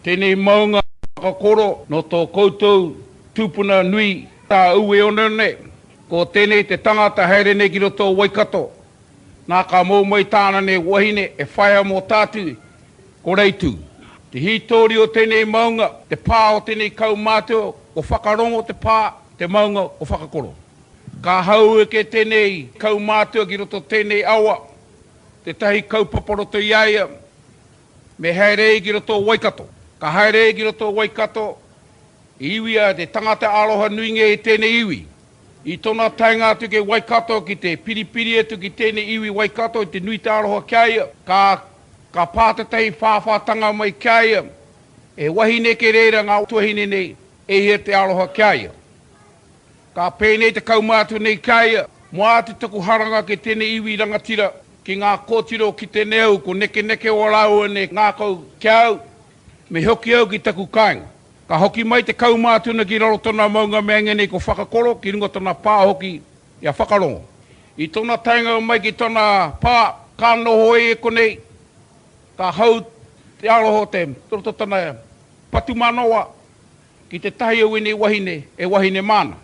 Tēnei maunga whakakoro nō tō koutou tūpuna nui tā Ueoneone, ko tēnei te tangata haere nei ki roto o Waikato, nā ka mō mai tāna nei wahine e whaia mō tātu, ko Reitu. Te hītori o tēnei maunga, te pā o tēnei kaumātua, ko Whakarongo te pā, te maunga o Whakakoro. Ka haueke tēnei kaumātua ki roto tēnei awa, Tētahi kaupapa roto i a ia, me haere e ki roto o Waikato. Ka haere e ki roto o Waikato, i iwi a te tangata aroha nui ngē i tēnei iwi. I tona taenga atu ki Waikato ki te piripiri atu ki tēnei iwi Waikato i te nui te aroha ki a ia, ka ka pā tētahi whāwhātanga mai ki a ia, he wahine kē reira ngā tuahine nei, e hia te aroha ki a ia. Ka pēnei te kaumātua nei ki a ia, Mo ā te tuku haranga ki tēnei iwi rangatira, ki ngā kōtiro o ki tēnei au, ko nekeneke ō rāua nei ngākau ki a au, me hoki au ki taku kāinga. Ka hoki mai te kaumātua ki raro tona maunga mea ngēnei ko Whakakoro ki runga tona pā hoki i a Whakarongo. I tona taenga mai ki tona pā, ka noho e konei, ka hau te aroha o te roto tana patu manawa, Ki te tahi o wenei wahine, e wahine māna.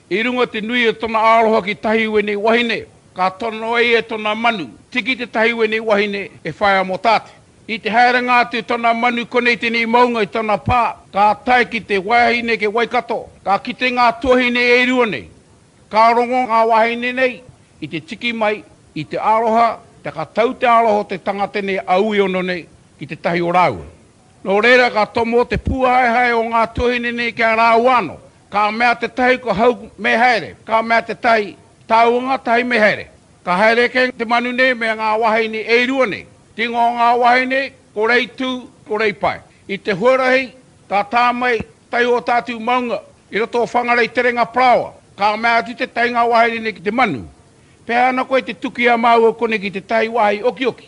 I runga te nui o tona aroha ki tahi i wenei wahine, ka tono ai e tona manu, tiki te tahi wenei wahine, e whaea mo tate. I te haerenga atu tona manu konei tenei maunga i tona pa, ka tae ki te wahine ke Waikato, ka kite nga tuahine e rua nei. Ka rongo nga wahine nei i te tiki mai i te aroha, taka tau te aroha o te tangata nei a Uiono nei ki te tahi o raua. Nō reira ka tomo te pūhaehae o ngā tuahine nei ki a rāua anō. Ka mea tētahi ko hau me haere, ka mea tētahi, tāua ngā tahi me haere. Ka haere kē te manu nei me ngā wāhine e rua nei. Tīngoa o ngā wāhine, ko Reitū, ko Reipae. I te huarahi, ka tā mai, tahi o tātou maunga, i roto o Whangarei Terenga Parāoa. Ka mea atu tētahi ngā wāhine nei ki te manu, Pēhea ana koe te tuki a māua konei ki tētahi wāhi okioki?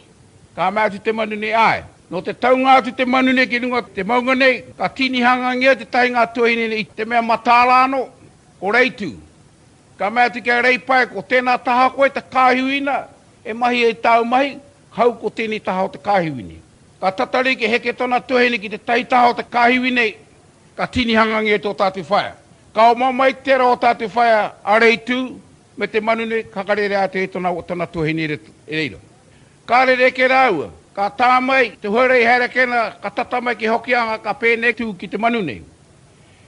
Ka mea atu te manu nei, Āe. Nō te taunga atu te manu nei ki runga te maunga nei, ka tīni hangangia te tahi ngā tuahine nei i te mea mataara anō, ko Reitu. Ka mea atu ki a Reipae, ko tēnā taha koe te kāhiwina e mahi ai tāu mahi, hau ko tēnei taha o te kāhiwine. Ka tatari kia heke tōna tuahine ki te tahi taha o te kāhiwi nei, ka tīni hangangia tō tātou whaea. Ka oma mai ki tērā o tātou whaea a Reitu me te manu nei, ka hakarere atu e tōna tuahine i reira. Ka rerekē rāua, ka tā mai te huarei Haerekena ka tata mai ki Hokianga ka pēnei tū ki te manu nei.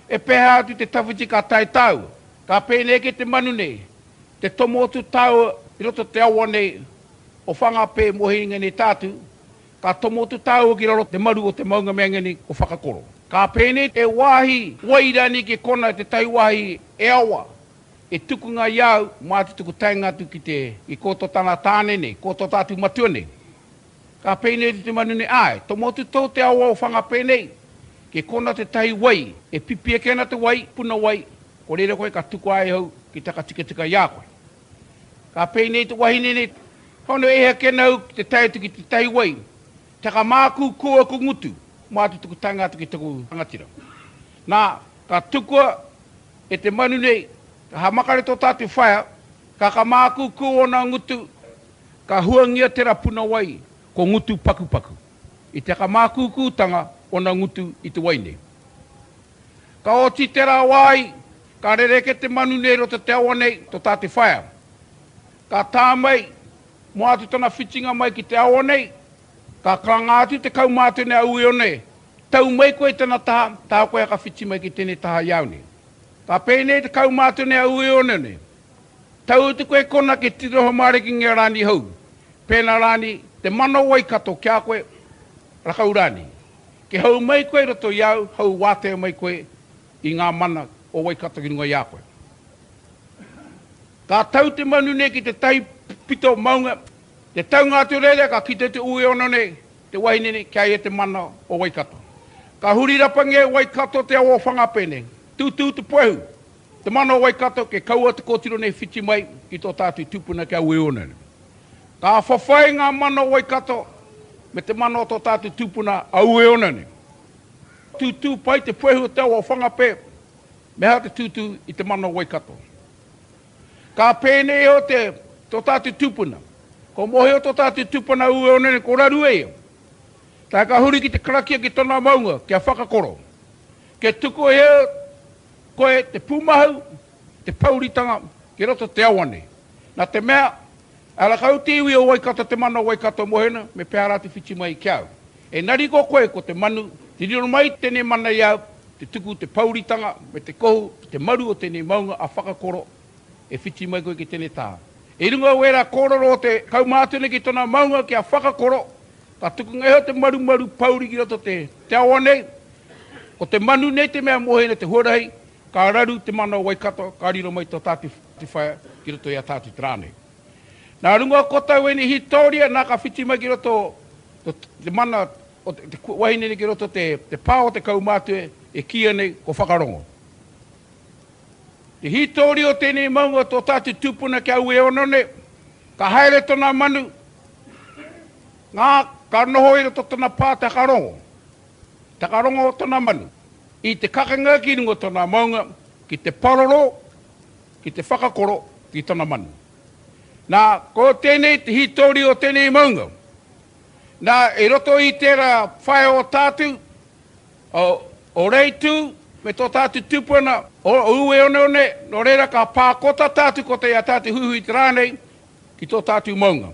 E peha atu te tawhiti ka tae tāua? Ka pēnei ki te manu nei, te tomo atu tāua i roto te awa nei o Whangapē mō Hiringaneitātu, ka tomo atu tāua ki raro te maru o te maunga mea ngeni o Whakakoro. Ka pēnei te wāhi wai rani ki kona tētahi wāhi e awa, E tukunga i au, mā te tuku taenga atu ki te. I kō tō tāna tāne nei, kō tō tātou matua nei. Ka pēnei te te manu nei, āe, tomotu tō te awao whanga pēnei, kei kōna tētahi wai, e pipi ake ana te wai, puna wai, ko reira koe ka tukua ai hau ki te whakatikatika i a koe. Ka pēnei te wahine nei, hono e heke ana au ki te tae atu ki tētahi wai, taka māku kō aku ngutu, mā te tuku taenga atu ki taku rangatira. Nā, ka tukua. E te manu nei, ka hamakare tō tātou whaea, ka ka mākūkū ōna ngutu, ka huangia tērā puna wai ko ngutu pakupaku. I te ka mākūkūtanga ōna ngutu i te wai nei. Ka oti tērā wai, ka rereke te manu nei roto te awa nei, tō tātou whaea. Ka tā mai, mō atu tana whitinga mai ki te awa nei, ka karanga atu te kaumātua nei a Uione Tau mai koe i tena taha, taha koe haka whiti mai ki tenei taha i au nei. Ka pēnei te kaumātua nei a Ueone nei, Tau atu koe kona ki te noho mārekinga i a Rani hou, pēna Rani te mana o Waikato ki a koe, rakau rānei. Ke hou mai koe i roto i au, hou wātea mai koe i ngā mana o Waikato ki runga i a koe. Ka tau te manu nei ki te tahi pito maunga, te taunga atu reira ka kite te Ueone nei, Te wahine nei, kia e te mana o Waikato. Ka huri rapangi e Waikato te ao o Whangapē nei. Tūtū te puehu, te mana o Waikato kia kaua te kōtiro nei whiti mai ki tō tātou tūpuna ki a Ueonere. Ka whawhai ngā mana o Waikato me te mana o tō tātou tūpuna a Ueonere. Tūtū pai te puehu o te ao o Whangapē, me aha te tūtū i te mana o Waikato. Ka pēnei iho te, tō tātou tūpuna. Ko Mōhio tō tātou tūpuna ū ōna nei ko Rarue ia. Tae ka huri ki te karakia ki tōna maunga kia whakakoro. Kia tukuhia koe te pūmahau, te pouritanga ki roto te awa nei. Nā te mea, Ara kau te iwi o Waikato te mana o Waikato mohena me pea ra te whiti mai ki au. Enari ko koe ko te manu, te riro mai tenei mana i au, te tuku te pauritanga me te kohu ki te maru o tenei maunga a whakakoro e whiti mai koe ki tenei taha. I runga o era kororo o te kaumātene ki tona maunga ki a whakakoro, ka tukunga iho te marumaru pouri ki roto te te awa nei, ko te manu nei te mea mohena te huarahi, Ka raru te mana o Waikato, ka riro mai tō tātou whaea ki roto i a tātou te rā nei. Nā runga o kotau ēnei hītoria, nā ka whiti mai ki roto te mana o te wahine nei ki roto te pā o te kaumātua e kīia nei ko Whakarongo. Te hītoria o tēnei maunga o tō tātou tūpuna ki aua e ono nei, ka haere tōna manu, nā, ka noho i roto tōna pā te Whakarongo. Takarongo o tona manu. I te kakenga ki runga tona maunga ki te paroro, ki te whakakoro ki tona manu. Na, ko tenei te hitori o tenei maunga. Na, i roto i tera whaea o tatu, o Reitu me to tatu tupuna, o Ueoneone, no reira ka pa kota tatu ko te ia tatu huihuitera nei ki to tatu maunga.